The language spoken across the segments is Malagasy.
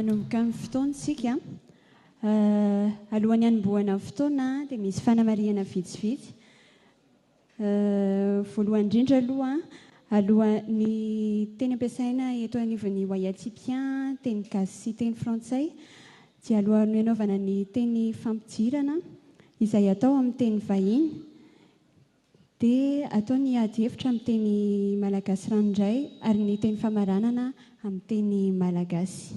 Hanomboka ny fotoana isika. Alohan'ny hanombohana ny fotoana dia misy fanamarihana vitsivitsy. Voalohany indrindra aloha, aloha, ny teny ampiasaina eto anivon'ny Wayatipià, teny gasy sy teny frantsay, dia alohan'ny hanaovana ny teny fampidirana izay atao amin'ny teny vahiny, dia atao ny ady hevitra amin'ny teny malagasy ranoray ary ny teny famaranana amin'ny teny malagasy.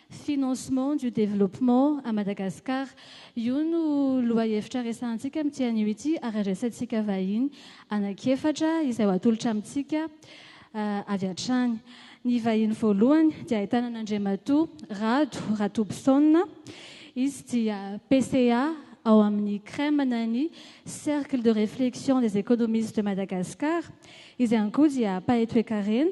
Financement du développement à Madagascar. Io no lohahevitra resahantsika amin'ity anio ity ary andraisantsika vahiny anankiefatra izay ho atolotra amintsika avy hatrany. Ny vahiny voalohany dia ahitana an'Andriamatoa Rado Ratobison. Izy dia PCA ao amin'ny CREM na ny Cercle de réflexion des économistes de Madagascar. Izy ihany koa dia mpahay toekarena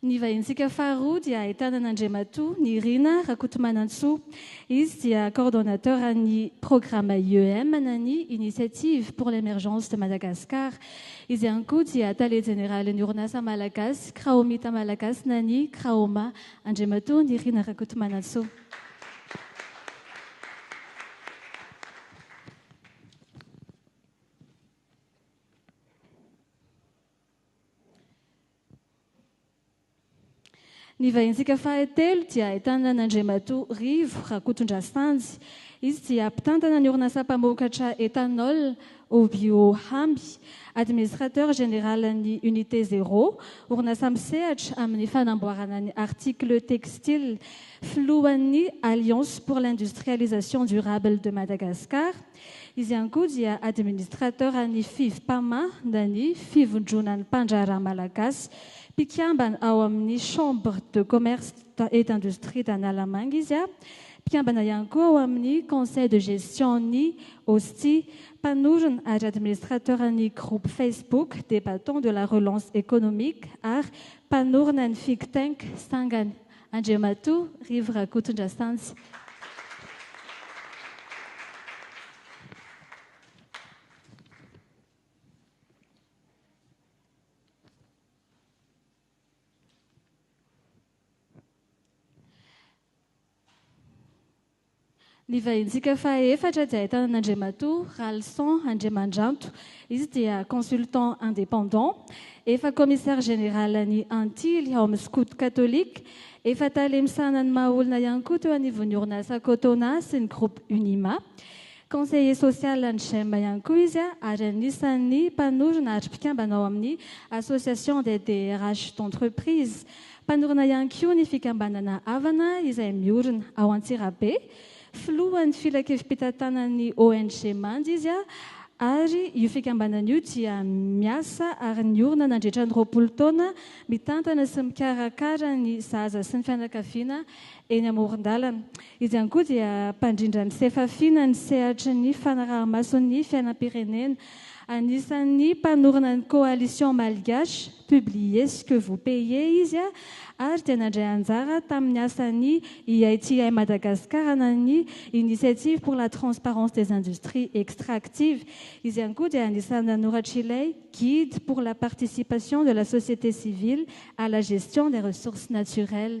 Ny vahinintsika faharoa dia ahitana an'Andriamatoa Nirina Rakotomanantsoa. Izy dia coordonnateur an'ny programme IEM na ny Initiative pour l'Emergence de Madagascar. Izy ihany koa dia tale jeneralin'ny orinasa malagasy Kraomita Malagasy na ny Kraoma. Andriamatoa Nirina Rakotomanantsoa. Ny vahintsika fahatelo dia ahitana an'Andriamatoa Rivo Rakotondrasanjy. Izy dia mpitantana ny orinasa mpamokatra ethanol Obio Hamby, Administrateur Général ny Unité Zéro, orinasa misehatra amin'ny fanamboarana ny articles textiles, filohan'ny Alliance pour l'industrialisation durable de Madagascar, Izy ihany koa dia administrateur an'ny Fivpama na ny Fivondronan'ny Mpandraharaha Malagasy. Mpikambana ao amin'ny Chambre de Commerce et d'Industrie d'Analamanga izy. Mpikambana ihany koa ao amin'ny Conseil de Gestion-n'ny OSTI. Mpanorina ary administrateur ny groupe Facebook des Battants de la Relance Economique ary mpanorina ny Figtank sangany Andriamatoa Rivo Rakotondrasanjy. Ny vahintsika faha efatra dia ahitana an'Andriamatoa Ralison Andriamandranto. Izy dia consultant indépendant, efa commissaire général an'ny Antily ao amin'ny Scouts Catholiques, efa tale misahana ny maha olona ihany koa teo anivon'ny orinasa Cotona sy ny groupe Unima. Conseiller social an'ny Gem ihany koa izy ary anisan'ny mpanorina ary mpikambana ao amin'ny Association des DRH d'entreprise. Mpanorina ihany koa ny fikambanana Avana izay miorina ao Antsirabe. Filohan'ny filankevim-pitantanan'ny ONG Manja izy ary io fikambanana io dia miasa ary niorina nandritra ny roapolo taona mitantana sy mikarakara ny zaza sy ny fianakaviana eny amoron-dalana. Izy ihany koa dia mpandrindra ny sefafiana ny sehatry ny fanaraha-mason'ny fiainam-pirenena. Anisan'ny mpanorina ny Coalition Malgache, Publiez ce que vous payez izy ary dia nandray anjara tamin'ny asan'ny IITI Madagascar na ny Initiative pour la transparence des industries extractives. Izy ihany koa dia anisan'ny nanoratr'ilay Guide pour la participation de la société civile à la gestion des ressources naturelles.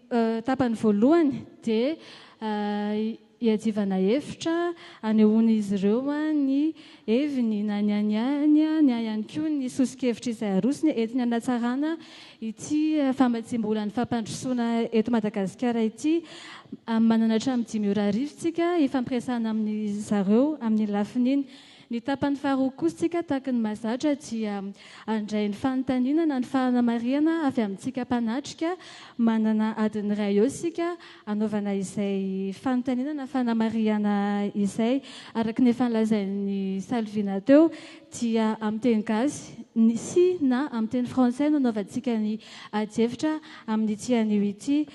Tapany voalohany dia hiadivana hevitra, hanehoan'izy ireo ny heviny na ny an'ny ainy na ihany koa ny soso-kevitra izay arosony entiny hanatsarana ity famatsiam-bolan'ny fampandrosoana eto Madagasikara ity. Manana hatramin'ny dimy ora arivo isika hifampiresahana amin'izy ireo amin'ny lafiny iny. Ny tapany faharoa kosa tsika tahaky ny mahazatra dia handray ny fanontaniana na ny fanamarihana avy amintsika mpanatrika. Manana adiny iray eo isika hanaovana izay fanontaniana na fanamarihana izay. Araky ny efa nolazain'i Salvina teo dia amin'ny teny gasy sy na amin'ny teny frantsay no hanaovantsika ny adihevitra amin'ity anio ity.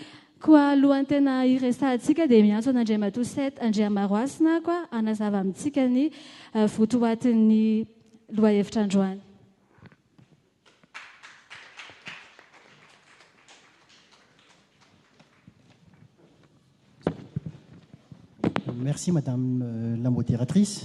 Koa alohan'ny tena hiresahantsika dia miantso an'Andriamatoa Seth Andriamaroasina aho koa hanazava amintsika ny votoatin'ny lohahevitra androany. Merci madame la modératrice.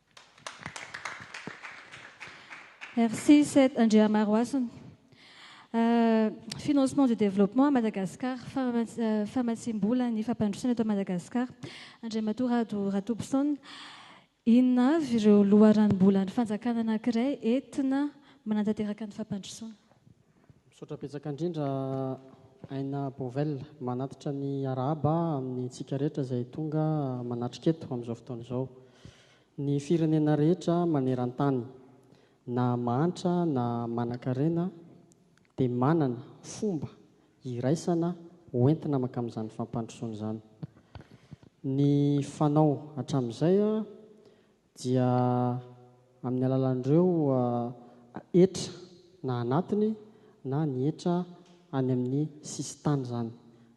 Merci Seth Andriamarohasina. Euh, financement du développement à Madagascar, euh, famatsiam-bola ny fampandrosoana eto Madagascar, Andriamatoa Rado Ratobison, inona avy ireo loharanom-bolan'ny fanjakana anankiray entina manatanteraka ny fampandrosoana? Misaotra betsaka indrindra Aina Bovel manatitra ny arahaba amin'ny antsika rehetra izay tonga manatrika eto amin'izao fotoana izao. Ny firenena rehetra maneran-tany, na mahantra na manan-karena, dia manana fomba iraisana hoentina mankamin'izany fampandrosoana izany. Ny fanao hatramin'izay dia amin'ny alalan'ireo hetra na anatiny na ny hetra any amin'ny sisintany izany.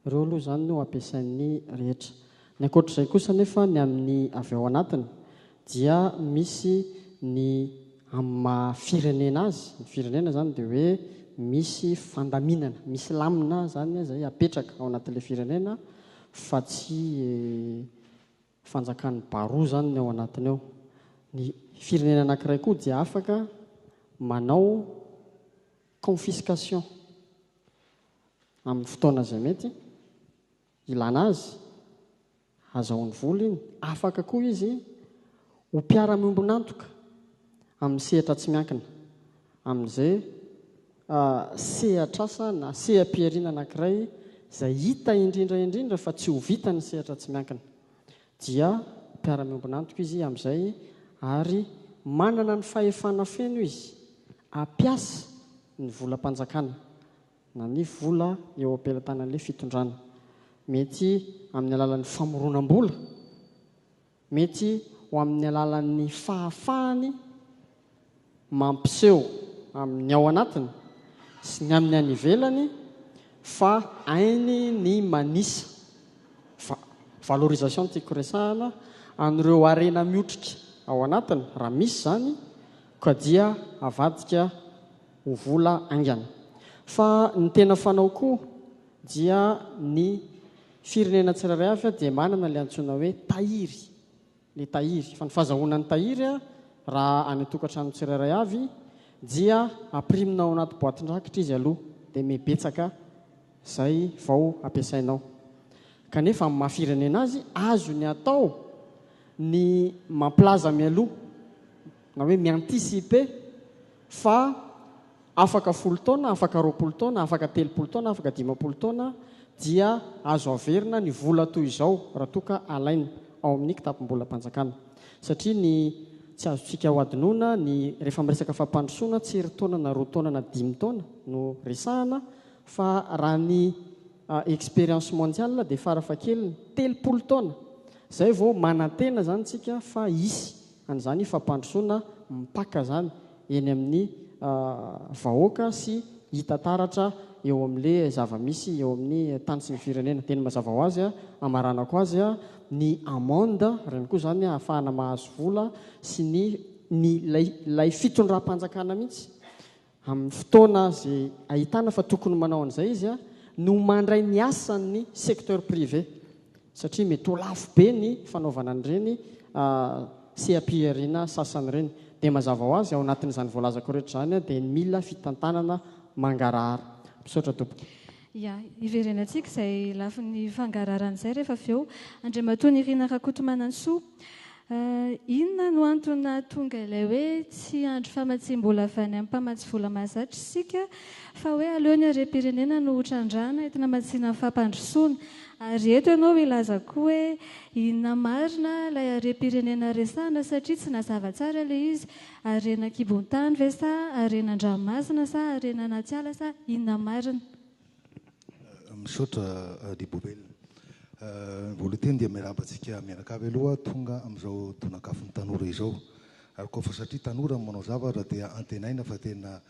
Ireo aloha izany no ampiasain'ny rehetra. Ny ankoatr'izay kosa anefa ny amin'ny avy ao anatiny dia misy ny amin'ny maha firenena azy, ny firenena izany dia hoe misy fandaminana, misy lamina izany izay apetraka ao anatin'ilay firenena fa tsy fanjakan'ny baroa izany ny ao anatiny ao. Ny firenena anankiray koa dia afaka manao confiscation amin'ny fotoana izay mety ilana azy, hazahoany vola iny. Afaka koa izy ho mpiara-miombon'antoka amin'ny sehatra tsy miankina. amin'izay sehatr'asa na seha-pihariana anankiray izay hita indrindra indrindra fa tsy ho vitan'ny sehatra tsy miankina, dia mpiara-miombon'antoka izy amin'izay ary manana ny fahefana feno izy hampiasa ny volam-panjakana na ny vola eo am-pelatanan'ilay fitondrana, mety amin'ny alalan'ny famoronam-bola. Mety ho amin'ny alalan'ny fahafahany mampiseho amin'ny ao anatiny sy ny amin'ny any ivelany fa hainy ny manisa, va, valorisation no tiako resahana, an'ireo harena miotrika ao anatiny, raha misy izany, ka dia avadika ho vola haingana. Fa ny tena fanao koa dia ny. Firenena tsirairay avy dia manana ilay antsoina hoe tahiry, ny tahiry. Fa ny fazahoana ny tahiry raha any an-tokantrano tsirairay avy dia ampirimina ao anaty boatin-drakitra izy aloha, dia mibetsaka izay vao ampiasainao. Kanefa amin'ny maha-firenena azy, azony atao ny mampilaza mialoha. na hoe mi-anticiper fa afaka folo taona, afaka roapolo taona, afaka telopolo taona, afaka dimampolo taona dia azo averina ny vola toy izao raha toa ka alaina ao amin'ny kitapom-bolam-panjakana. Satria ny tsy azontsika hohadinoina ny rehefa miresaka fampandrosoana tsy iry taona na roa taona na dimy taona no resahana fa raha ny expérience mondiale dia fara fahakeliny telopolo taona izay vao manantena izany isika fa hisy an'izany fampandrosoana mipaka izany eny amin'ny vahoaka sy hita taratra eo amin'ilay zava-misy eo amin'ny tany sy ny firenena. Dia ny mazava ho azy, hamaranako azy, ny amende, ireny koa izany hahafahana mahazo vola sy ny ny ilay ilay fitondram-panjakana mihitsy amin'ny fotoana izay ahitana fa tokony manao an'izay izy no mandray ny asan'ny secteur privé satria mety ho lafo be ny fanaovana an'ireny seha-pihariana sasany ireny. Dia mazava ho azy, ao anatin'izany voalazako rehetra izany dia mila fitantanana mangarahara. Misaotra tompoko. Ia, hiverenantsika izay lafiny fangararana izay rehefa avy eo. Andriamatoa Nirina Rakotomanantsoa, inona no antony nahatonga ilay hoe tsy hiandry famatsiam-bola avy any amin'ny mpamatsy vola mahazatra isika fa hoe aleo ny harem-pirenena no ho trandrahana entina hamatsiana ny fampandrosoana? Ary eto ianao hilaza koa hoe inona marina ilay harem-pirenena resahana satria tsy nazava tsara ilay izy Harena an-kibon-tany ve sa harena an-dranomasina sa harena anaty ala sa inona marina? Misaotra Adibobel. Voalohany teny dia miarahaba antsika mianaka avy aloha tonga amin'izao tonakafon'ny tanora izao. Ary koa fa satria tanora no manao zavatra dia antenaina fa tena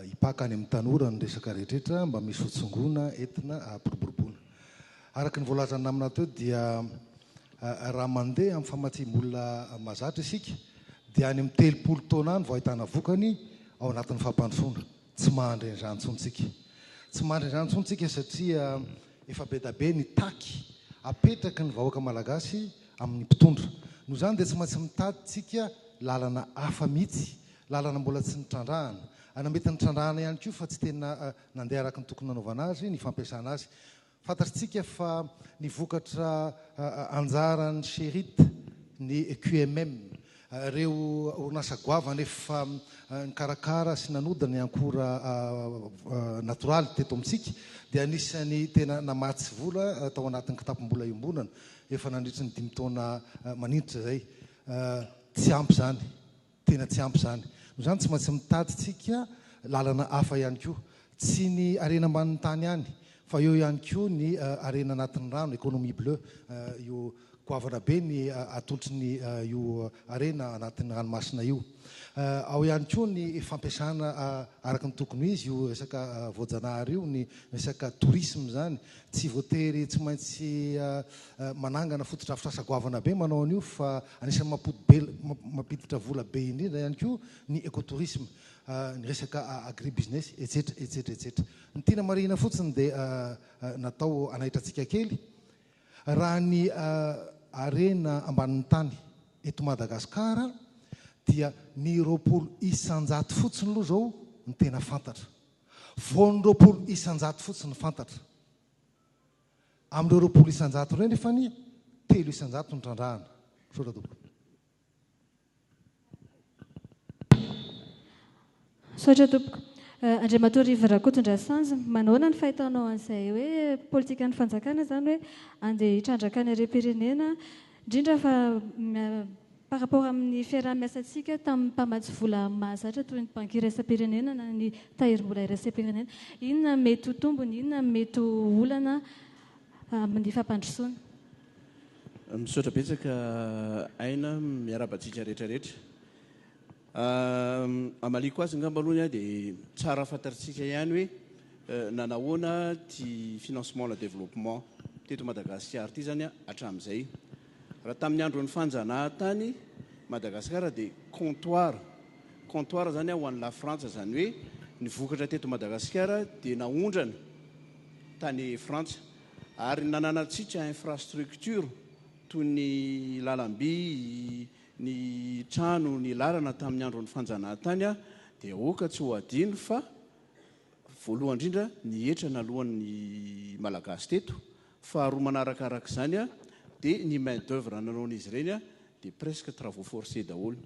hipaka any amin'ny tanora ny resaka rehetra rehetra mba misy hotsongoina, entina hampiroboroboana. Araka ny voalazan'ny namana teo dia raha mandeha amin'ny famatsiam-bola mahazatra isika dia any amin'ny telopolo taona any vao ahitana vokany ao anatin'ny fampandrosoana. Tsy mandry an'izany intsony isika. Tsy mandry an'izany intsony isika satria efa be dia be ny taky apetraky ny vahoaka malagasy amin'ny mpitondra. Noho izany dia tsy maintsy mitady isika lalana hafa mihitsy, lalana mbola tsy nitrandrahana, na mety nitrandrahana ihany koa fa tsy tena nandeha araka ny tokony nanaovana azy ny fampiasana azy. Fantatrtsika fa ny vokatra anjaran'ny Cheirit ny QMM, ireo orinasa goavana efa nikarakara sy nanody ny ankora natoraly teto amintsika dia anisan'ny tena namatsy vola tao anatin'ny kitapom-bola iombonana efa nandritry ny dimy taona maninitra izay. Tsy ampy izany. Tena tsy ampy izany. Noho izany tsy maintsy mitadintsika lalana hafa ihany koa. Tsy ny harena ambanin'ny tany ihany fa eo ihany koa ny harena anatin'ny rano, économie bleue. Io goavana be ny atolotry io harena anatin'ny ranomasina io. Ao ihany koa ny fampiasana araka ny tokony ho izy io resaka voajanahary io, ny resaka tourisme izany. Tsy voatery tsy maintsy manangana fotodrafitrasa goavana be manao an'io fa Anisan'ny mampodibela, mampiditra vola be indrindra ihany koa ny ecotourisme, ny resaka agribusiness, etsetra, etsetra, etsetra. Ny tiana marihina fotsiny dia natao hanaitra antsika kely raha ny harena ambanin'ny tany eto Madagasikara dia ny roapolo isan-jato fotsiny aloha izao ny tena fantatra. Vao ny roapolo isan-jato fotsiny fantatra. Amin'ireo roapolo isan-jato ireo anefa anie telo isan-jato no trandrahana. Misaotra tompoko. Misaotra tompoko. Eh, Andriamatoa Rivo Rakotondrasanjy, manahoana ny fahitanao an'izay hoe politikan'ny fanjakana izany hoe andeha hitrandraka ny harem-pirenena, indrindra fa Par rapport amin'ny fiaraha-miasantsika tamin'ny mpamatsy vola mahazatra toy ny Banky Iraisam-pirenena na ny Tahirimbola Iraisam-pirenena, inona mety ho tombony, inona ny mety ho olana amin'ny fampandrosoana? Misaotra betsaka Aina, miarahaba antsika rehetra rehetra. Hamaliako azy angamba aloha ny ahy dia tsara fantatritsika ihany hoe nanahoana ity financement à la développement teto Madagasikara ity izany hatramin'izay. Raha tamin'ny andron'ny fanjanahantany Madagasikara dia comptoir, comptoir zany ho an'i Lafrantsa, zany hoe ny vokatra teto Madagasikara dia naondrana tany Frantsa ary nananantsika infrastructure toy ny lalamby, ny trano, ny lalana tamin'ny andron'ny fanjanahantany dia aoka tsy ho adino fa voalohany indrindra ny hetra naloan'ny Malagasy teto Faharoa manaraka araka izany dia ny main d'oeuvre nanaon'izy ireny dia presque travaux forcés daholo.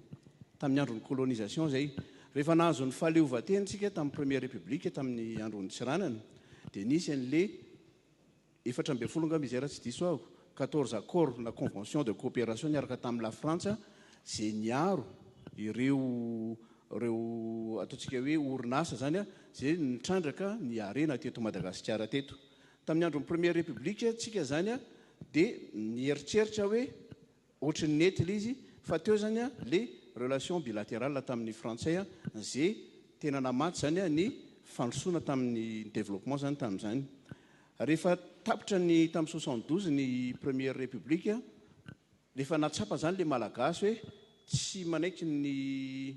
Tamin'ny andron'ny colonisation izay. Rehefa nahazo ny fahaleovantena isika tamin'ny première république tamin'ny andron'i Tsiranana dia nisy an'ilay efatra ambin'ny folo angamba izay raha tsy diso aho, quatorze accords na conventions de coopération niaraka tamin'i La Frantsa izay niaro ireo ireo ataontsika hoe orinasa izany izay nitrandraka ny harena teto Madagasikara teto. Tamin'ny andron'ny Première République tsika zany dia nieritreritra hoe ohatry ny nety le izy fa teo zany le relation bilaterale tamin'ny frantsay ze tena namatsy zany ny fandrosoana tamin'ny développement zany tamin'izany. Rehefa tapitra ny tamin'ny soixante douze ny Première République rehefa nahatsapa zany le Malagasy hoe tsy manaiky ny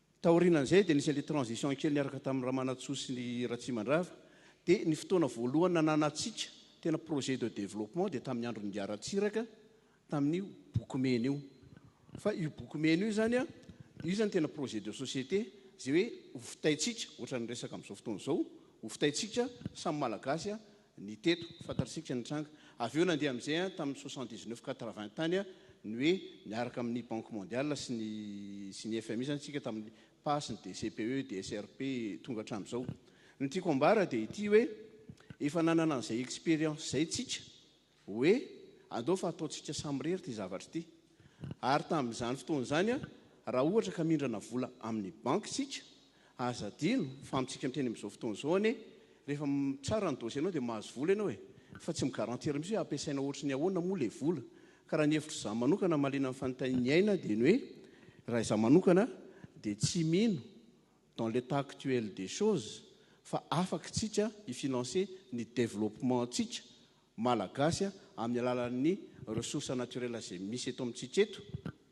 Taorianan'izay dia nisy an'ilay transition kely niaraka tamin'i Ramanantsoa sy ny Ratsimandrava, dia ny fotoana voalohany nananantsika tena projet de développement dia tamin'ny andron'i Ingahy Ratsiraka tamin'io boky mena io. Fa io boky mena io izany, io izany tena projet de société izay hoe ho fitaintsika, ohatran'ny resaka amin'izao fotoana izao, ho fitaintsika samy Malagasy ny teto, fantatsika ny tranga. Avy eo nandeha amin'izay an, tamin'ny soixante dix neuf quatre vingt tany an, ny hoe niaraka amin'ny Banque Mondiale sy ny sy ny FMI izany isika tamin'ny pas, ny DCPE, DSRP, tonga hatramin'izao. Ny tiako ambara dia ity hoe efa nanana an'izay expérience izay isika Hoe, Andao fa hataontsika samirery ity zavatra ity. Ary tamin'izany fotoana izany, raha ohatra ka mindrana vola amin'ny banky isika, aza adino fa amintsika miteny amin'izao fotoana izao anie, rehefa mitsara ny dossier-nao dia mahazo vola ianao e! Fa tsy mi-garantir mihitsy hoe hampiasaina ohatry ny ahoana moa ilay vola. Ka raha ny hevitr'izaho manokana mahaliana ny fanontain'ny aina dia ny hoe, raha izaho manokana dia tsy mino dans l'état actuel des choses fa afaka isika hi-financer ny développement-ntsika Malagasy amin'ny alalan'ny ressources naturelles izay misy eto amintsika eto,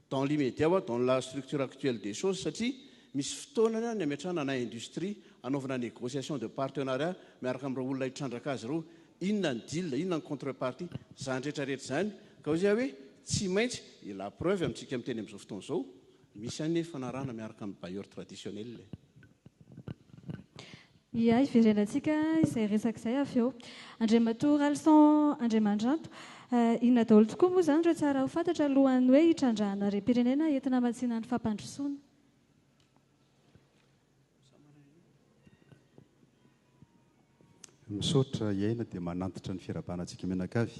dans l'immédiat wa dans la structure actuelle des choses, satria misy fotoana ny ametrahana na industrie hanaovana négociation de partenariat miaraka amin'ireo olona hitrandraka azy ireo, inona ny deal, inona ny contrepartie, izany rehetra rehetra izany ka hoy aho hoe tsy maintsy, et la preuve amintsika miteny amin'izao fotoana izao misy an'ny fanarahana miaraka amin'ny bailleurs traditionnels. Ia, hiverenantsika izay resaka izay avy eo. Andriamatoa Ralison Andriamandranto, inona daholo tokoa moa izany ireo tsara ho fantatra alohan'ny hoe hitrandrahana harem-pirenena entina hamatsiana ny fampandrosoana? Misaotra, hiaina dia manantitra ny firahabana antsika mianakavy.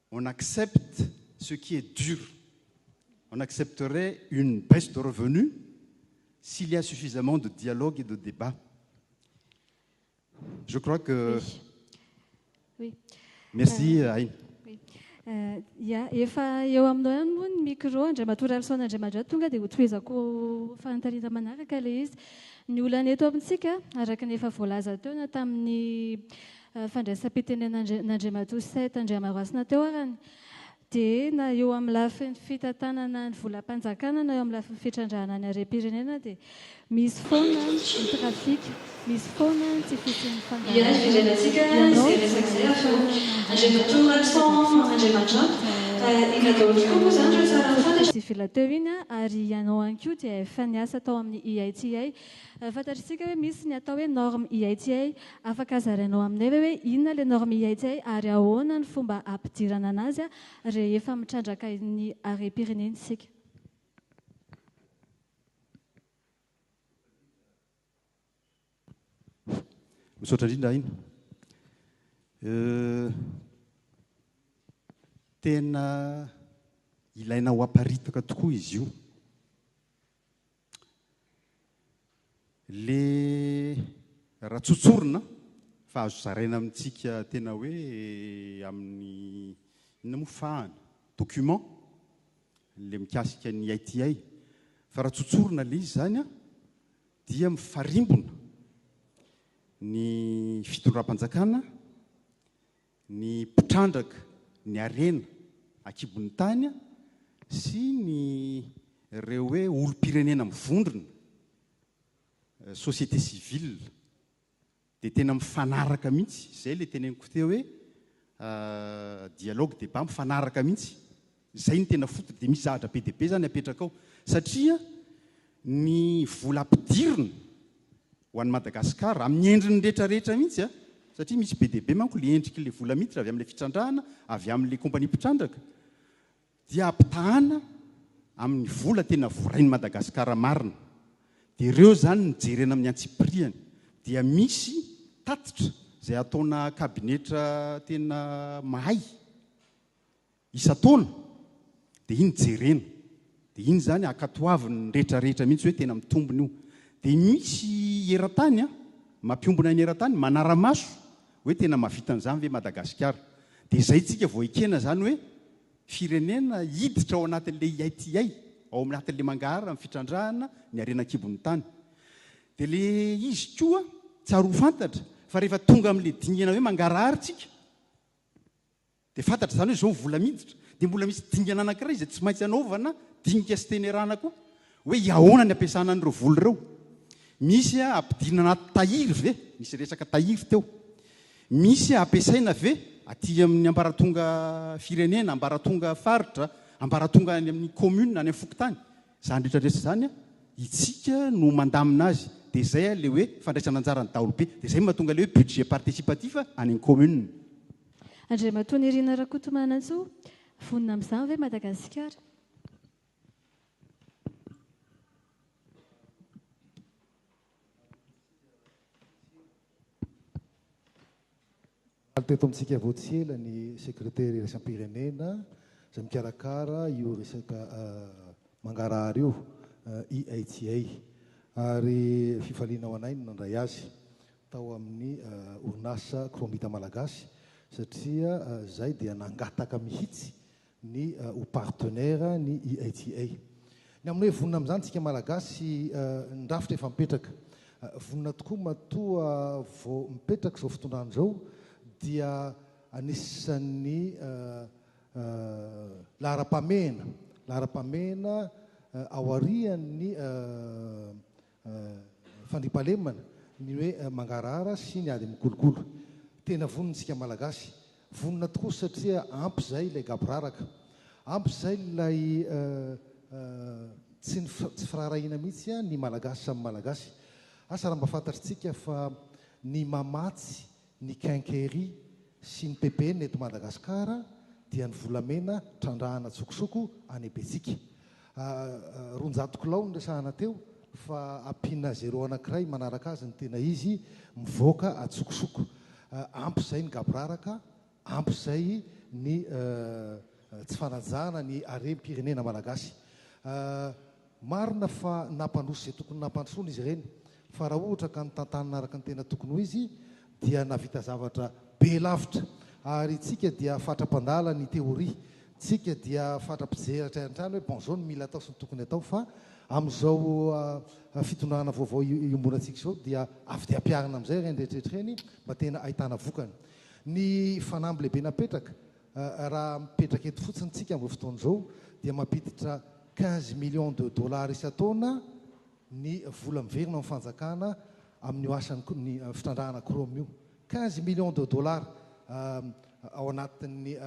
on accepte ce qui est dur, on accepterait une baisse de revenus s'il y a suffisamment de dialogue et de débat. Je crois que... Oui. Merci, euh, Aïn. Oui. Euh, ya, efa eo aminao ihany moa ny micro Andriamatoa Ralison Andriamadra tonga dia hotohizako fanontanina manaraka ilay izy. Ny olana eto amintsika, araka ny efa voalaza teo na tamin'ny fandraisam-pitenenan'Andriamatoa Seth Andriamarasina teo arany dia na eo amin'ny lafiny fitantanana ny volam-panjakana na eo amin'ny lafiny fitrandrahana ny harem-pirenena dia misy foana ny trafic, misy foana ny tsy fisian'ny fandaharana. Ianao dia ahafahana mandrandrana ny redaction civil teo iny ary ianao ihany koa dia efa niasa tao amin'ny IITA. Fantatr'isika hoe misy ny atao hoe norme IITA Afaka zarainao aminay ve hoe inona ilay norme ihaitsay ary ahoana ny fomba hampidirana anazy rehefa mitrandraka ny harem-pirenena isika? Misaotra indrindra Aina. Tena ilaina ho aparitaka tokoa izy io. Le raha tsotsorina fa azo zaraina amintsika tena hoe amin'ny inona moa fahana? document le mikasika ny ITI fa raha tsotsorina le izy zany a dia mifarimbona ny fitondram-panjakana ny mpitrandraka ny harena ankibon'ny tany sy ny ireo hoe olom-pirenena mivondrona, société civile, dia tena mifanaraka mihitsy, izay ilay teneniko teo hoe dialogue, débat, mifanaraka mihitsy Izay no tena foot dia misy zavatra be dia be izany apetraka ao satria ny vola ampidirina ho an'i Madagascar amin'ny endriny rehetra rehetra mihitsy satria misy be dia be manko ilay endriky ilay vola miditra avy amin'ilay fitrandrahana avy amin'ilay compagnie mpitrandraka dia ampitahana amin'ny vola tena vorain'i Madagascar marina dia ireo izany no jerena amin'ny antsipiriany dia misy tatitra izay ataona kabinetra tena mahay isan-taona dia iny jerena dia iny izany ankatoavin'ny retraretra mihitsy hoe tena mitombina io dia misy eran-tany an mampiombona ny eran-tany manara-maso hoe tena mahavita an'izany ve Madagasikara dia izay tsika vao ekena izany hoe firenena hiditra ao anatin'ilay ITI ao anatin'ilay mangahara amin'ny fitrandrahana ny harena an-kibon'ny tany dia ilay izy koa tsary ho fantatra fa rehefa tonga amin'ilay dingana hoe mangarahara tsika Dia fantatra izany hoe izao vola miditra, dia mbola misy dingana anankiray izay tsy maintsy anaovana dinika sy tenerana koa, hoe iahoana ny ampiasana an'ireo vola ireo. Misy ampidirina anaty tahiry ve? Nisy resaka tahiry teo. Misy ampiasaina ve aty amin'ny ambaratonga firenena, ambaratonga faritra, ambaratonga any amin'ny commune, any amin'ny fokontany? Izany rehetra rehetra izany, itsika no mandamina azy. Dia izay ilay hoe fandraisana anjaran'ny daholobe. Dia izay no mahatonga ilay hoe budget participatif any amin'ny commune. Andriamatoa Nirina Rakotomanantsoa, Vonona amin'izany ve Madagasikara? Omaly teto amintsika vao tsy ela ny sekretera iraisam-pirenena izay mikarakara io resaka mangarahara io, IHA, ary fifaliana ho anay ny nandray azy. tao amin'ny orinasa Chromita Malagasy satria izahay dia nangataka mihitsy ny ho partenaire ny IATA. Ny amin'ny hoe vonona amin'izany isika Malagasy, ny rafitra efa mipetraka. Vonona tokoa matoa vao mipetraka izao fitondrana izao dia anisan'ny laharam-pahamehana, laharam-pahamehana aorian'ny Fandriampahalemana ny hoe mangarahara sy ny ady amin'ny kolikoly. Tena vonona isika Malagasy. Vonona tokoa satria ampy izay ilay gaboraraka. Ampy izay ilay tsy tsy firaharahiana mihitsy ny Malagasy samy Malagasy. Asa raha mba fantatritsika fa ny mamatsy Ny Quincaillerie sy ny PPN eto Madagasikara dia ny volamena trandrahana tsokosoko any Ebetsika. Roanjato kilao no resahana teo fa ampiana zéro anankiray manaraka azy ny tena izy mivoaka an-tsokosoko. Ampy izay ny gaboraraka, ampy izay ny tsy fanajana ny harem-pirenena malagasy. Marina fa nampandroso izay tokony nampandrosoana izy ireny, fa raha ohatra ka notantanina araka ny tena tokony ho izy dia nahavita zavatra be lavitra. Ary isika dia fatra-mpandala ny teoria, isika dia fatra-pijery hatrany hatrany hoe bon zao no mila atao sy ny tokony atao fa amin'izao fitondrana vaovao iombonantsika izao dia avy dia ampiharina amin'izay ireny rehetra rehetra ireny mba tena ahitana vokany. Ny fanamby lehibe napetraka Raha mipetraka eto fotsiny tsika amin'izao fotoana izao dia mampiditra quinze millions de dollars isan-taona ny vola miverina amin'ny fanjakana amin'io asan'ny fitrandrahana chrome io. Quinze millions de dollars ao anatin'ny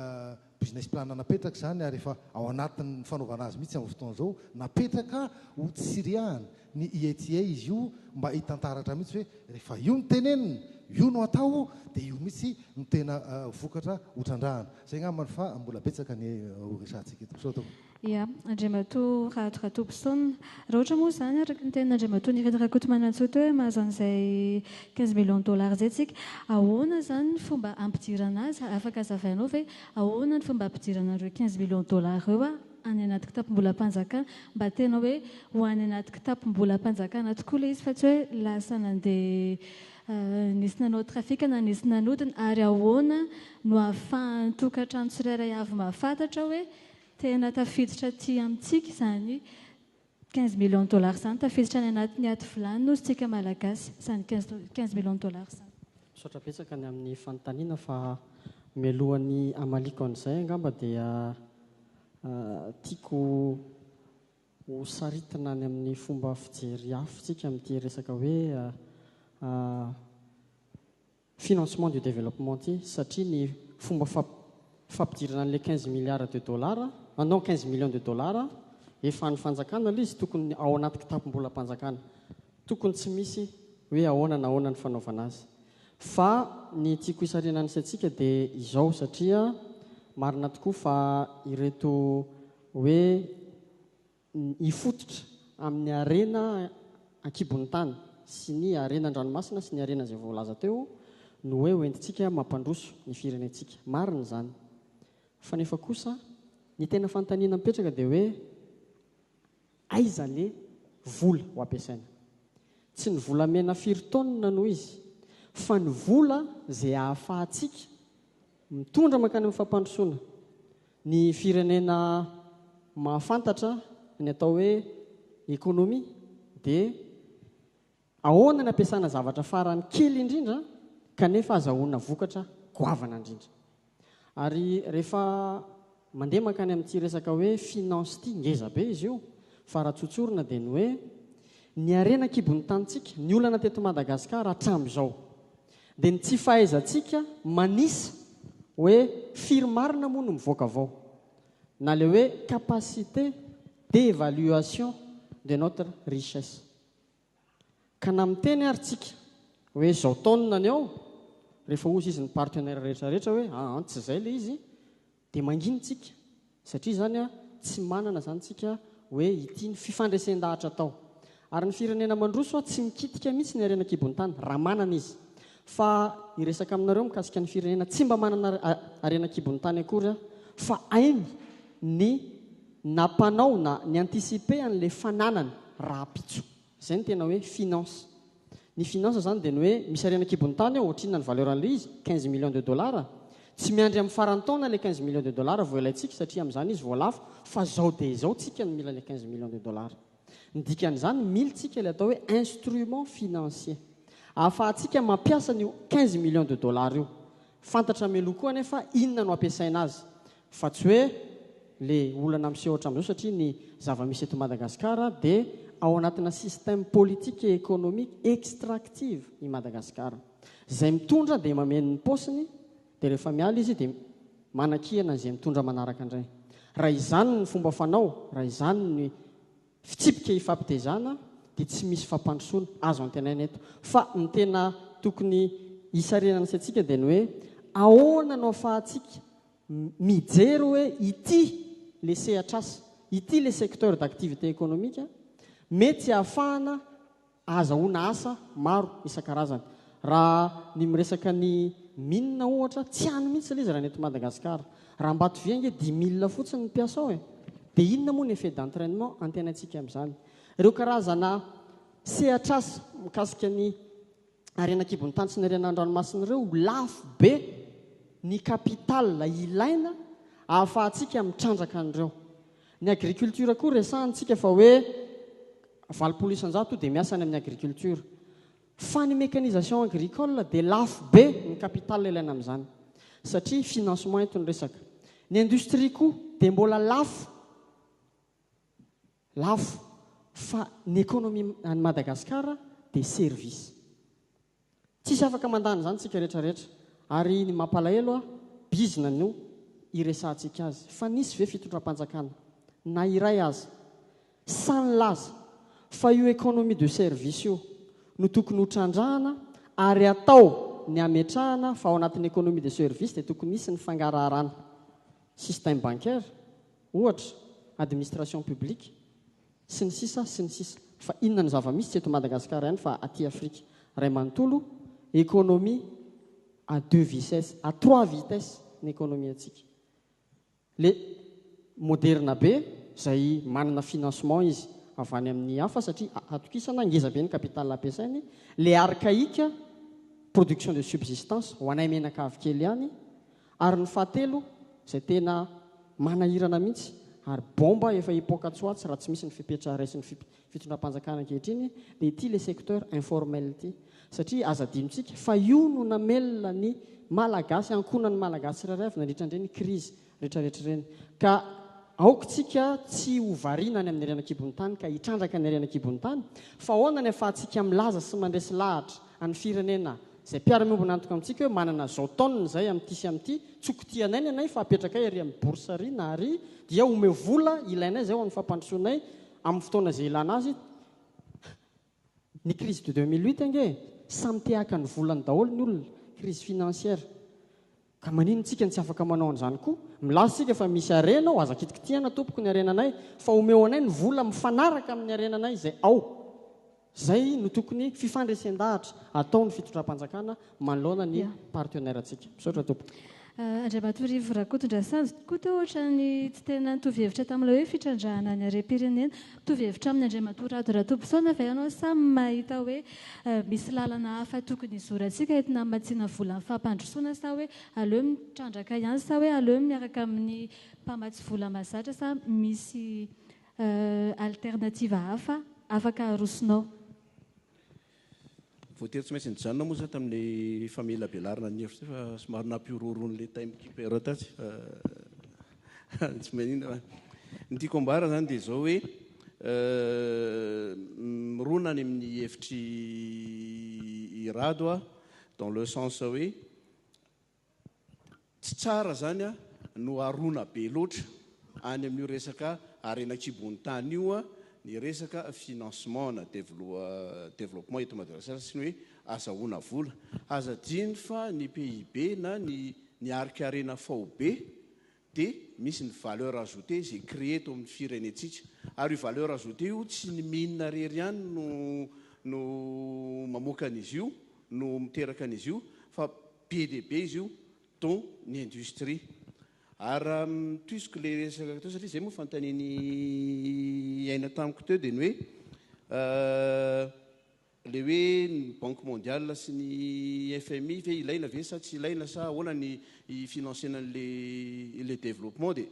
business plan napetraka izany ary efa ao anatin'ny fanaovana azy mihitsy amin'izao fotoana izao, napetraka ho tsiriahana. Ny IETIE izy io mba hitantaratra mihitsy hoe rehefa io no tenenina, io no atao dia io mihitsy no tena vokatra ho trandrahana. Izay angambany fa mbola betsaka ny ho resahantsika eto. Misaotra tompoko. Ia, Andriamatoa Rado Ratobison. Raha ohatra moa izany, araka ny tenin'Andriamatoa Nirina Rakotomanantsoa teo hoe mahazo an'izay quinze millions dollars izay isika, ahoana izany ny fomba hampidirana azy? Afaka hazavainao ve ahoana ny fomba hampidirana an'ireo quinze millions dollars ireo? any anaty kitapom-bolam-panjakana, mba tena hoe ho any anaty kitapom-bolam-panjakana tokoa ilay izy fa tsy hoe lasa nandeha nisy nanao trafic na nisy nanodina, ary ahoana no ahafahan'ny tokantrano tsirairay avy mahafantatra hoe tena tafiditra aty amintsika izany Quinze millions de dollars zany tafiditra any anatin'ny ady vilany nositsika Malagasy zany quinze millions de dollars zany. Misaotra betsaka ny amin'ny fanontaniana fa mialohan'ny hamaliako an'izay angamba dia tiako ho saritina any amin'ny fomba fijery hafintsika amin'ity resaka hoe financement du développement ity satria ny fomba fampidirana an'ilay quinze milliards de dollars ah non quinze millions de dollars ah efa an'ny fanjakana ilay izy tokony ao anaty kitapom-bolam-panjakana tokony tsy misy hoe ahoana na ahoana ny fanaovana azy fa ny tiako hisarihana ny saintsika dia izao satria marina tokoa fa ireto hoe hifototra amin'ny harena an-kibon'ny tany sy ny harena an-dranomasina sy ny harena izay voalaza teo no hoe hoentintsika mampandroso ny firenentsika. Marina izany. Fa nefa kosa ny tena fanontaniana mipetraka dia hoe aiza le vola ho ampiasaina? Tsy ny volamena firy taonina no izy fa ny vola izay ahafahantsika Mitondra mankany amin'ny fampandrosoana ny firenena mahafantatra ny atao hoe économie dia ahoana ny ampiasana zavatra farany kely indrindra kanefa azahoana vokatra goavana indrindra. Ary rehefa Mandeha mankany amin'ity resaka hoe finance ity, ngeza be izy io, fa raha tsotsorina dia ny hoe, ny harena an-kibon'ny tanintsika, ny olana teto Madagasikara hatramin'izao, dia ny tsy fahaizantsika manisa hoe firy marina moa no mivoaka avao, na ilay hoe capacité d'évaluation de notre richesse. Ka na miteny ary tsika hoe izao taonina ny ao, rehefa hozy izy ny partenaire rehetra rehetra hoe aa tsy izay ilay izy dia mangina tsika satria izany a tsy manana izany tsika hoe ity ny fifandresen-dahatra atao. Ary ny firenena mandroso a tsy mikitika mihitsy ny harena an-kibon'ny tany raha manana izy. Fa hiresaka aminareo mikasika ny firenena tsy mba manana harena an-kibon'ny tany akory aho fa hainy ny Nampanao na ni-anticiper an'ilay fananany rahampitso. Izay no tena hoe finance. Ny finance izany dia ny hoe misy harena an-kibon'ny tany ao, ohatrinona ny valeur an'ilay izy? Quinze millions de dollars. Tsy miandry amin'ny faran'ny taona ilay quinze millions de dollars vao ilaintsika satria amin'izany izy vao lafo, fa izao dia izao tsika no mila ilay quinze millions de dollars. Ny dikan'izany, mily tsika ilay atao hoe instrument financier. Ahafahantsika mampiasa an'io quinze millions de dollars io. Fantatra mialoha koa anefa inona no hampiasaina azy fa tsy hoe le olana miseho hatramin'izao satria ny zava-misy eto Madagascar dia ao anatina système politique et économique extractive i Madagascar. Izay mitondra dia mameno ny paosiny dia rehefa miala izy dia manakihana an'izay mitondra manaraka indray. Raha izany ny fomba fanao, raha izany ny fitsipika ifampitezana dia tsy misy fampandrosoana azo antenaina eto. Fa ny tena tokony hisarinana sy antsika dia ny hoe ahoana no afahantsika mijery hoe ity ilay sehatr'asa, ity ilay secteur d'activité économique mety hahafahana ahazahoana asa maro isan-karazany. Raha ny miresaka ny mine ohatra, tsy any mihitsy ilay izy raha ny eto Madagasikara. Raha Ambatovia ange dix mille fotsiny ny mpiasa ao e! Dia inona moa ny effet d'entrainement antenaintsika amin'izany? Ireo karazana sehatr'asa mikasika ny harena an-kibon'ny tany sy ny harena an-dranomasina ireo, lafo be ny capital ilaina ahafahantsika mitrandraka an'ireo. Ny agriculture koa resahantsika fa hoe valopolo isan-jato dia miasa any amin'ny agriculture. Fa ny mécanisation agricole dia lafo be ny capital ilaina amin'izany. Satria financement eto ny resaka. Ny industrie koa dia mbola lafo. Lafo. Fa ny économie an'i Madagasikara dia service. Tsisy afaka mandany izany tsika rehetra rehetra ary ny mampalahelo a bizina no iresahantsika azy fa nisy ve fitondram-panjakana na iray aza sahy nilaza fa io economie de service io no tokony ho trandrahana ary atao ny hametrahana fa ao anatin'ny economie de service dia tokony hisy ny fangaraharana système bancaire ohatra administration publique sy ny sisa sy ny sisa fa inona ny zava misy tsy eto Madagascar ihany fa aty Afrique ray manontolo economie à deux vices à trois vitesse ny economie antsika le moderna be zay manana financement izy avy any amin'ny hafa satria atokisana ngeza be ny capital ampiasainy le archaïque production de subsistance ho anay menaka avy kely ihany Ary ny fahatelo izay tena manahirana mihitsy ary bomba efa hipoaka tsoatsy raha tsy misy ny fepetra raisin'ny fitondram-panjakana ankehitriny dia ity le secteur informel ity satria aza adinontsika fa io no namelona ny malagasy ankonan'ny malagasy tsirairay avy nandritra an'ireny crise retraretra ireny ka aoka tsika tsy ho variana any amin'ny harena kibon'ny tany ka hitrandraka ny harena kibon'ny tany fa ahoana ny afahantsika milaza sy mandresy lahatra an'ny firenena Izay mpiara-miombon'antoka amintsika hoe manana izao taonina izay amin'ity sy amin'ity, tsoky tia anay ny anay fa apetrakay ary amin'ny bourse ary na ary dia omeo vola ilainay izay ho an'ny fampandrosoanay amin'ny fotoana izay ilana azy, ny crise de deux mille huit ange samy te haka ny volany daholo ny olona, crise financière. Ka maninn tsika no tsy afaka manao an'izany koa? Milaza isika fa misy harena ao, aza kitikitihana tompoko ny harenanay, fa omeo anay ny vola mifanaraka amin'ny harenanay izay ao. Izay no tokony fifandresen-dahatra ataon'ny fitondram-panjakana manoloana ny partenaire-ntsika. Misaotra tompoko. Andriamatorivo Rakotondrasanjy koa teo ohatran'ny tsy tena nitovy hevitra tamin'ilay hoe fitrandrahana ny harem-pirenena. Mitovy hevitra aminy Andriamatoa Rado Ratobison ve ianao sa mahita hoe misy lalana hafa tokony hizorantsika entina hamatsiana vola amin'ny fampandrosoana sa hoe aleo mitrandraka ihany sa hoe aleo miaraka amin'ny mpamatsy vola mahazatra sa misy alternative hafa afaka arosonao? Voatery tsy maintsy nijanona moa za tamin'ny famelabelarana ny hevitra fa somary nampihorohoro an'ilay time keeper tatsy fa tsy maninona fa ny tiako ambara zany dia izao hoe mirona any amin'ny hevitry i Rado a dans le sens hoe Tsy tsara zany a, no arona be loatra any amin'io resaka harena an-kibon'ny tany io a, ny resaka financement na developpement eto Madagasikara sy ny hoe azahoana vola. Aza adino fa ny PIB na ny ny harika harena faobe dia misy ny valeur ajoutée izay créer eto amin'ny firenentsika. Ary io valeur ajoutée io tsy ny mine irery ihany no no mamoaka an'izy io, no miteraka an'izy io, fa be dia be izy io, dont ny industrie. Ary raha mitohiziko ilay resaka teo, satria izay moa fanontanian'i Aina tamiko teo, dia ny hoe Ilay hoe ny banque mondiale sy ny FMI ve ilaina ve sa tsy ilaina sa ahoana ny hi-financena an'ilay le développement dia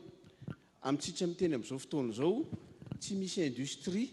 amintsika miteny amin'izao fotoana izao tsy misy industrie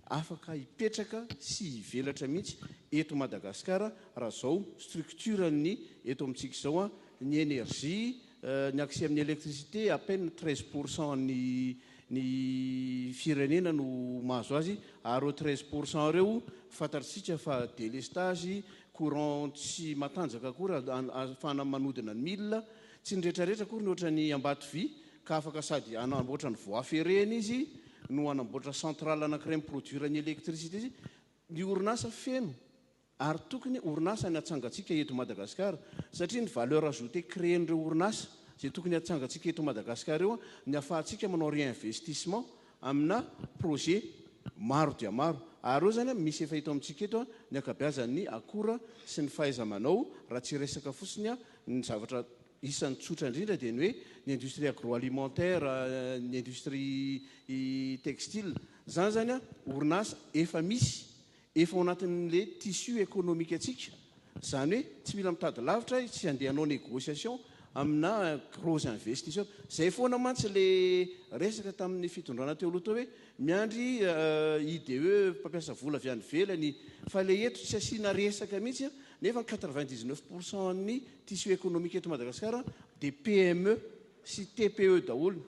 afaka hipetraka sy hivelatra mihitsy eto Madagasikara raha izao structure-ny eto amintsika izao ny énergie ny accès amin'ny électricité à peine treize pour cent ny ny firenena no mahazo azy ary ireo treize pour cent ireo fantatrtsika fa delestage, courant tsy matanjaka akory ahafahana manodina ny mille, tsy ny retraretra akory ny ohatran'ny Ambatovy ka afaka sady hanamboatra ny voie ferrée-ny izy no hanamboatra centrale anakiray mi-produire ny électricité izy, ny orinasa feno Ary tokony orinasa ny atsangantsika eto Madagascar satria ny valeur ajoutée créen'ireo orinasa izay tokony atsangantsika eto Madagascar eo ny afahantsika manao réinvestissement amina projet maro dia maro ary eo zany misy efa eto amintsika eto ny akabeazan'ny akora sy ny fahaizamanao raha tsy resaka fotsiny ny zavatra isan'ny tsotra indrindra dia ny hoe ny industrie agroalimentaire ny industrie textile zany zany orinasa efa misy Efa ao anatin'ilay tissu économique antsika, izany hoe tsy mila mitady lavitra, tsy handeha hanao négociation amina gros investisseur. Izay foana mantsy ilay resaka tamin'ny fitondrana teo aloha teo hoe miandry IDE mpampiasa vola avy any ivelany, fa ilay eto tsy asiana resaka mihitsy nefa ny quatre-vingt-dix-neuf pour cent an'ny tissu économique eto Madagasikara dia PME sy TPE daholo.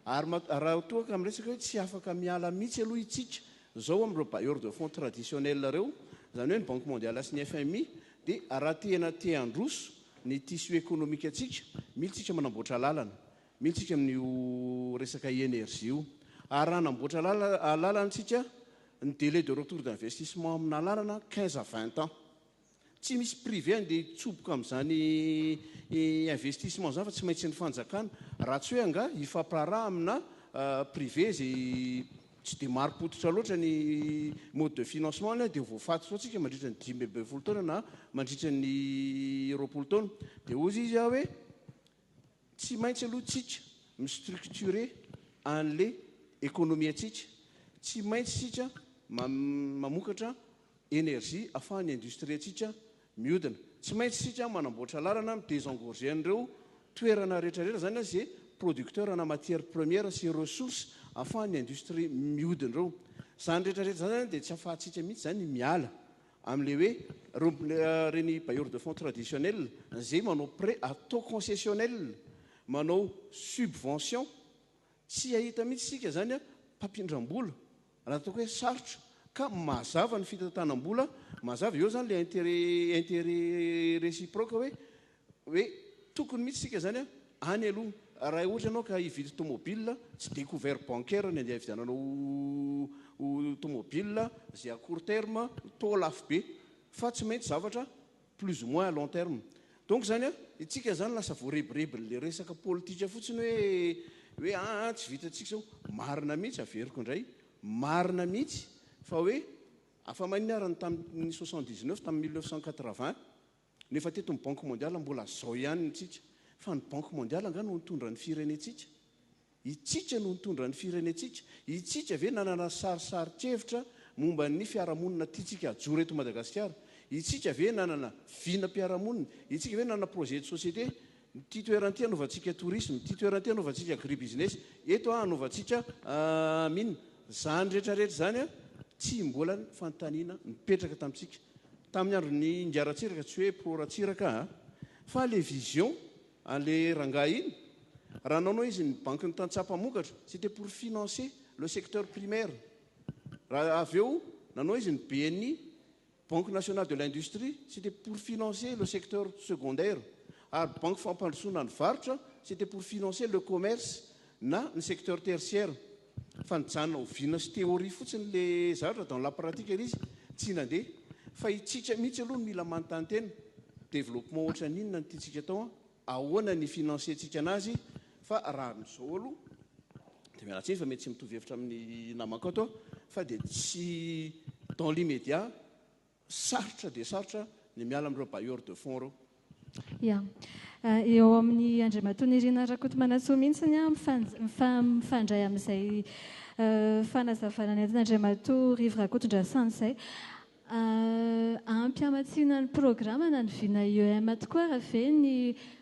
Ary raha toa ka miresaka hoe tsy afaka miala mihitsy aloha itsika Izao amin'ireo bailleurs de fonds traditionnels ireo, izany hoe ny Banque Mondiale sy ny fmi, dia raha tena te handroso ny tissu économique antsika, mila isika manamboatra lalana, mila isika amin'io resaka énergie io. Ary raha hanamboatra lalana isika, ny délai de retour d'investissement amina lalana, quinze à vingt ans. Tsy misy privé andeha hitsoboka amin'izany investissement izany fa tsy maintsy ny fanjakana. Raha tsy hoe angaha hifampiraharaha amina privé izay tsy dia marim-pototra loatra ny mode de financement-ny dia voafaty foana isika mandritra ny dimy ambin'ny folo taona na mandritra ny roapolo taona. Dia hozy izy aho hoe tsy maintsy aloha isika mi-structurer an'ilay ekonomiantsika. Tsy maintsy isika mamokatra énergie afahan'ny industrie-ntsika miodina. Tsy maintsy isika manamboatra lalana mi désengorger an'ireo toerana rehetrarehetra izany an ze producteur ana matière première sy ressource afahan'ny industrie miodina ireo. Izany rehetrarehetra izany zany dia tsy afahantsika mihitsy izany miala amin'ilay hoe ireo ireny bailleurs de fonds traditionnels izay manao prêt à taux concessionnel, manao subvention. Tsy hahita mihitsy isika izany an mpampindram-bola. Raha ataoko hoe sarotra ka mazava ny fitantanam-bola, mazava eo izany ilay intérêt, intérêt réciproque hoe, hoe tokony mihitsy isika izany an, any aloha. Raha ohatra ianao ka hividy tomobile, tsy dia couvert bancaire ny andeha hividiananao tomobile, izay à court terme, taux lafo be, fa tsy maintsy zavatra plus ou moins à long terme donc zany a itsika zany lasa voarebirebinle resaka politika fotsiny hoe hoe aa tsy vitantsika zao marina mihitsy averiko indray marina mihitsy fa hoe afa manina ary ny tamin'ny soixante dix neuf tamin'ny mille neuf cent quatre vingt no efa teto ny banque mondiale mbola zao ihany ny tsika fa ny banque mondiale angaha no nitondra ny firenentsika Itsika no nitondra ny firenentsika, itsika ve nanana sarisarin-kevitra momba ny fiarahamonina tiantsika hajoro eto Madagasikara, itsika ve nanana vinam-piarahamonina, itsika ve nanana projet de société, ity toerana ity hanaovantsika tourisme, ity toerana ity hanaovantsika agribusiness, eto hanaovantsika mine, izany rehetra rehetra izany tsy mbola fanontaniana nipetraka tamintsika tamin'ny andron'i Ingahy Ratsiraka, tsy hoe pro Ratsiraka aho fa ilay vision Anle rangahy iny? Raha anao anao izy ny banky ny tantsaha mpamokatra, c'était pour financer le secteur primaire. Raha avy eo nanao izy ny bni, banque nationale de l'industrie, c'était pour financer le secteur secondaire. Ary banky fampandrosoana ny varotra, c'était pour financer le commerce na ny secteur tertiaire. Fa nijanona oviana sy théorie fotsiny le zavatra dans la pratique ary izy tsy nandeha. Fa itsika mihitsy aloha no mila manontany tena, développement ohatran'ny inona no tiantsika atao an? Ahoana ny hi-financer-tsika anazy? Fa raha amin'izao aloha dia miala tsiny fa mety tsy mitovy hevitra amin'ny namankato aho fa dia tsy dans l'immédiat Sarotra dia sarotra ny miala amin'ireo bailleurs de fonds ireo. Ya. Eo amin'i Andriamatoa Nirina Rakotomanantsoa mihitsy ny ahy mifandray amin'izay fanazavana nentin'Andriamatoa Rivo Rakotondrasana izay. Ampy hamatsiana ny programana ny vina IEM tokoa ary ve ny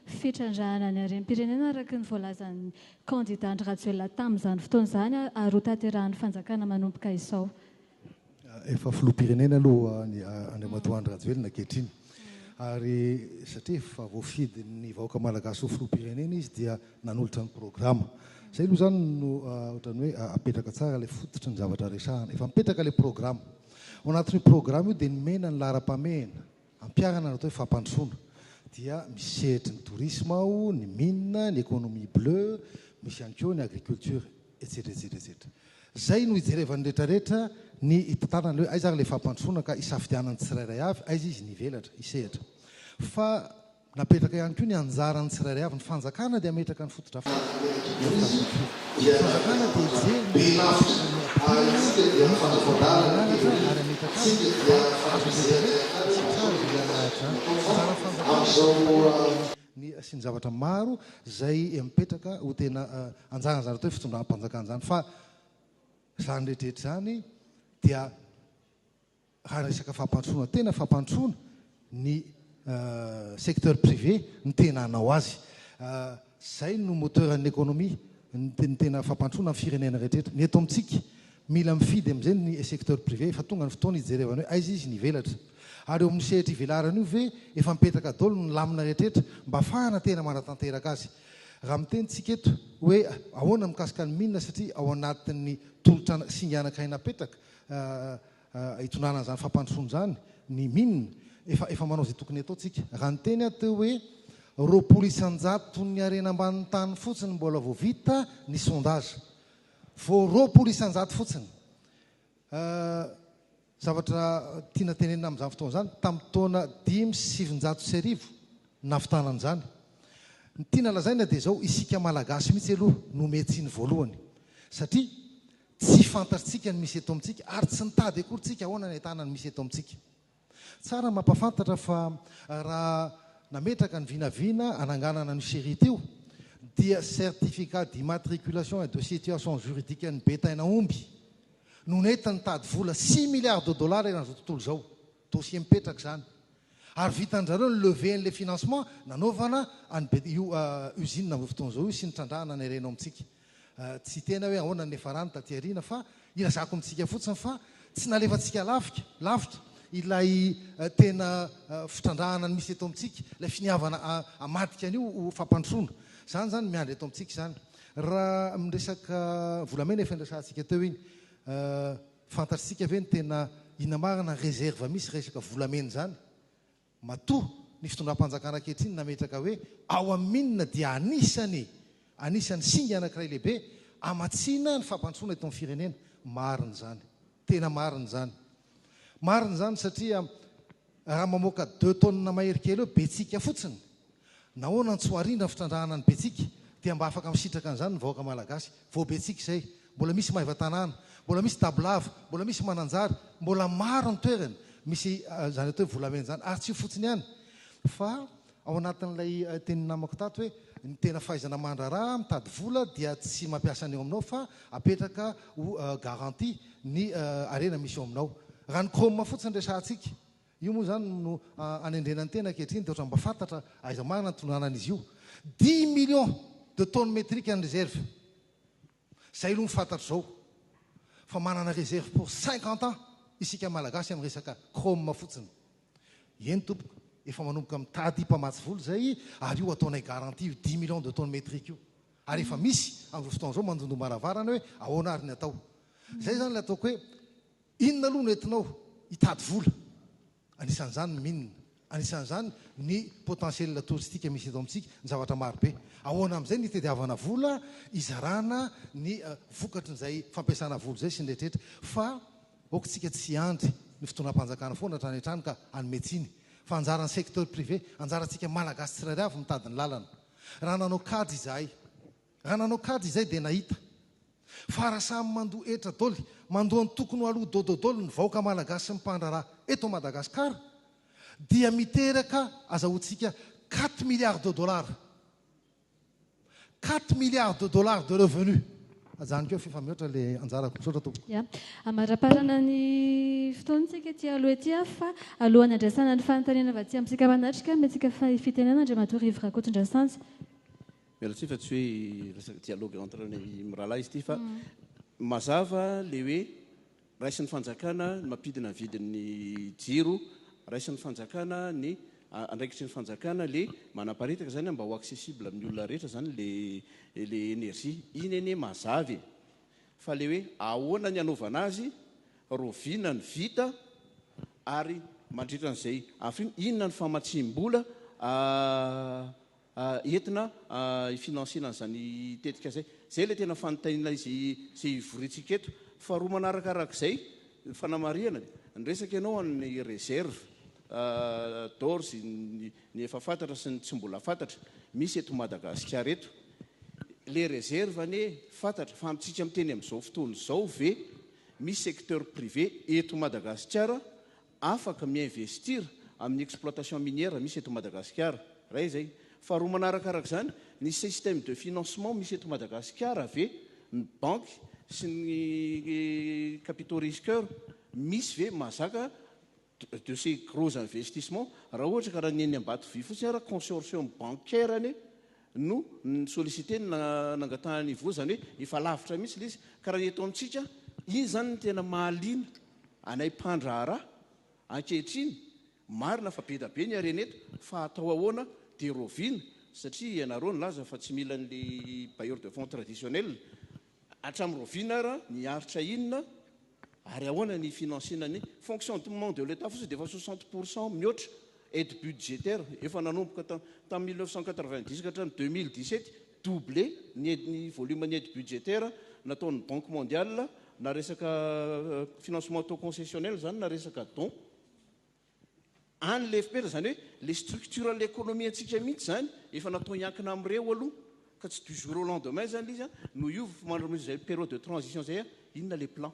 fitrandrahana ny harem-pirenena araka ny voalazan'ny kandida Andry Rajoelina tamin'izany fotoana izany ary hotanterahan'ny fanjakana manomboka izao? Efa filoham-pirenena aloha Andriamatoa Andry Rajoelina ankehitriny ary satria efa voafidin'ny vahoaka malagasy ho filoham-pirenena izy dia nanolotra ny programa. Izay aloha izany no ohatran'ny hoe apetraka tsara ilay fototry ny zavatra resahana. Efa mipetraka ilay programa. Ao anatin'io programa io dia nomena ny laharam-pahamehana Ampiharana ny atao hoe fampandrosoana dia misy sehatry ny tourisme ao, ny mines, ny économie bleue, misy ihany koa ny agriculture, etsetra etsetra etsetra. Izay no hijerevan'ny rehetra rehetra ny hitantarana ilay hoe aiza ary ilay fampandrosoana ka hisafidianan'ny tsirairay avy aiza izy ny hivelatra, hisehatra. Fa Napetraka ihany koa ny anjaran'ny tsirairay avy. Ny fanjakana dia hametraka ny fotodrafitrasa sy ny tafitrisa. Ny fanjakana dia hijery ny fisian'ny miampitolona sy ny fanatsarana ny lalana ary hametraka azy fa azo ampiasaina tsy tsara izay hanahiratra ny anjaran'ny fanjakana sy ny mpanjakana ny sy ny zavatra maro izay mipetraka ho tena anjara izany atao hoe fitondram-panjakana izany fa izany rehetra rehetra izany dia Raha resaka fampandrosoana tena fampandrosoana ny secteur privé no tena hanao azy. Izay no moteur'an'ny économie, ny tena fampandrosoana ny firenena rehetra rehetra. Ny eto amintsika, mila mifidy amin'izay ny secteur privé, efa tonga ny fotoana hijerevana hoe aiza izy ny hivelatra. Ary eo amin'ny sehatra ivelarana io ve efa mipetraka daholo ny lamina rehetra rehetra mba hafahana tena manatanteraka azy. Raha miteny tsika eto hoe ahoana mikasika ny mines satria ao anatin'ny tolotra singa anankiray napetraka hitondrana an'izany fampandrosoana izany ny min. Efa efa manao izay tokony hatao tsika. Raha niteny aho teo hoe roapolo isan-jaton'ny harena ambanin'ny tany fotsiny mbola vao vita ny sondage. Vao roapolo isan-jato fotsiny. Zavatra tiana tenenina amin'izany fotoana izany, tamin'ny taona dimy sy sivinjato sy arivo nahavitana an'izany. Ny tiana lazaina dia izao, isika Malagasy mihitsy aloha no miha-tsiny voalohany. Satria Tsy fantatrtsika ny misy eto amintsika ary tsy nitady akory tsika ahoana ny ahitana ny misy eto amintsika. Tsara mampafantatra fa raha nametraka ny vinavina ananganana an'io Sherry teo dia certificat d'immatriculation et de situation juridique an'i Betaina Omby no nety nitady vola six milliards de dollars eran'izao tontolo izao. Dossier mipetraka izany. Ary vitan-drizareo ny levée an'ilay financement nanaovana an'i be, io usine amin'izao fotoana izao io sy ny trandrahana nerenao amintsika. Tsy tena hoe ahoana ny niafarany taty aoriana fa ilazako amintsika fotsiny fa tsy nalefantsika lafika, lavitra, ilay tena fitrandrahana ny misy eto amintsika, ilay finiavana hamadika an'io ho fampandrosoana. Izany izany miandry eto amintsika izany. Raha amin'ny resaka volamena efa niresahantsika teo iny. Fantatsika ve ny tena inamarana reserve misy resaka volamena izany? Matoa ny fitondram-panjakana ankehitriny nametraka hoe ao amin'ny mine dia anisany anisany singa anankiray lehibe hamatsiana ny fampandrosoana eto amin'ny firenena. Marina izany. Tena marina izany. Marina izany satria Raha mamoaka deux tonnes mahery kely eo Betsiaka fotsiny, nahoana no tsy ho arindra ny fitrandrahana an'i Betsiaka? Dia mba afaka misitraka an'izany ny vahoaka Malagasy. Vao Betsiaka izay, mbola misy Maivatanàna, mbola misy Dabolava, mbola misy Mananjary, mbola maro ny toerana misy izany atao hoe volamena izany. Ary tsy io fotsiny ihany fa Ao anatin'ilay tenin'ny namako tato hoe ny tena fahaizana mandraharaha mitady vola dia tsy mampiasa ny eo aminao fa apetraka ho garantie ny harena misy eo aminao. Raha ny Chrome fotsiny resahantsika, io moa izany no anendrena ny tena ankehitriny dia ohatran'ny mba fantatra aiza marina ny tononanan'izy io. Dimy millions de tonnes métriques ny reserve. Zay aloha ny fantatro zao fa manana réserve pour cinquante ans isika malagasy amin'ny resaka chrome fotsiny. Eny tompoko, efa manomboka mitady mpamatsy vola zay ary io ataonay garantie io dix millions de tonnes métriques io. Ary efa misy amin'izao fotoana izao mandondom-baravarana hoe ahoana ary ny atao. Zay zany ilay ataoko hoe inona aloha no entinao hitady vola. Anisan'izany ny mines, anisan'izany ny potentiel touristique misy eto amintsika, ny zavatra maro be. Ahoana amin'izay ny hitadiavana vola hizarana ny vokatry izay fampiasana vola izay sy ny rehetrarehetra. Fa aokitsika tsy hiandry ny fitondram-panjakana foana hatrany hatrany ka hanome tsiny. Fa anjaran'ny secteur privé, anjarantsika Malagasy tsirairay avy mitady ny lalana. Raha nanao kajy izahay, Raha nanao kajy izay dia nahita. Fa raha samy mandoa hetra doly, mandoa antokony ho aloha dododoly ny vahoaka malagasy sy ny mpandraharaha eto Madagascar dia miteraka azahoantsika quatre milliards de dollars. Quatre milliards de dollars de revenus. Ajanoko eo f'efa mihoatra le anjarako. Misaotra tompoko. Ya. Amaraparana ny fotoana tsika ety aloha ety fa alohan'ny andresana ny fanontaniana avy aty amintsika manatrika, miantsika fahefitenana Andriamatoa Rivo Rakotondrasanjy. Miala tsiny fa tsy hoe resaka dialogue entre ny mirahalahy izy ity fa mazava le hoe raisin'ny fanjakana ny mampidina ny vidin'ny jiro, raisin'ny fanjakana ny andraikitry ny fanjakana le manaparitaka zany mba ho accessible amin'ny olona rehetra zany le le énergie. Iny anie mazava e! Fa le hoe ahoana ny hanaovana azy, roviana ny vita ary mandritra an'izay afiriana, inona ny famatsiam-bola entina hi-financer-na an'izany tetika izay. Izay ilay tena fanontaniana izay hivoriantsika eto. Faharoa manaraka araka izay, ny fanamarihana, niresaka ianao an'ny réserve d'ores ny efa fantatra sy ny tsy mbola fantatra misy eto Madagasikara eto. Ilay réserve anie fantatra fa amintsika miteny amin'izao fotoana izao ve misy secteur privé eto Madagasikara afaka mi-investir amin'ny exploitation minière misy eto Madagasikara, iray izay. Faharoa manaraka araka izany, ny système de financement misy eto Madagasikara ve, ny banky sy ny capitaux risqueurs misy ve mahazaka de ces gros investissements, raha ohatra ka raha ny eny Ambatovy fotsiny ara, consortium bancaire anie no ni-solliciter ny nangatahany hivoha, izany hoe efa lavitra mihitsy ilay izy, ka raha ny eto amintsika, iny izany no tena mahaliana anay mpandraharaha ankehitriny, marina fa be dia be ny harena eto fa atao ahoana dia roviana satria ianareo nilaza fa tsy mila an'ilay bailleur de fonds traditionnel, Hatramin'ny rahoviana ara miaritra inona ary ahoana ny finansiana ny fonctionnement de l'Etat fotsiny dia efa soixante pour cent mihoatra aide budgétaire efa nanomboka tamin'ny mille neuf cent quatre-vingt-dix ka hatramin'ny deux mille dix-sept doublé ny ny volume ny aide budgétaire nataon'ny banque mondiale na resaka financement taux concessionnel izany na resaka don any ilay fpr izany hoe ilay structure an'ilay economie antsika mihitsy izany efa natao hiankina amin'ireo aloha ka tsy du jour au lendemain izany ilay izy an, no hiova fa mandritra izay période de transition izay an, inona ilay plan.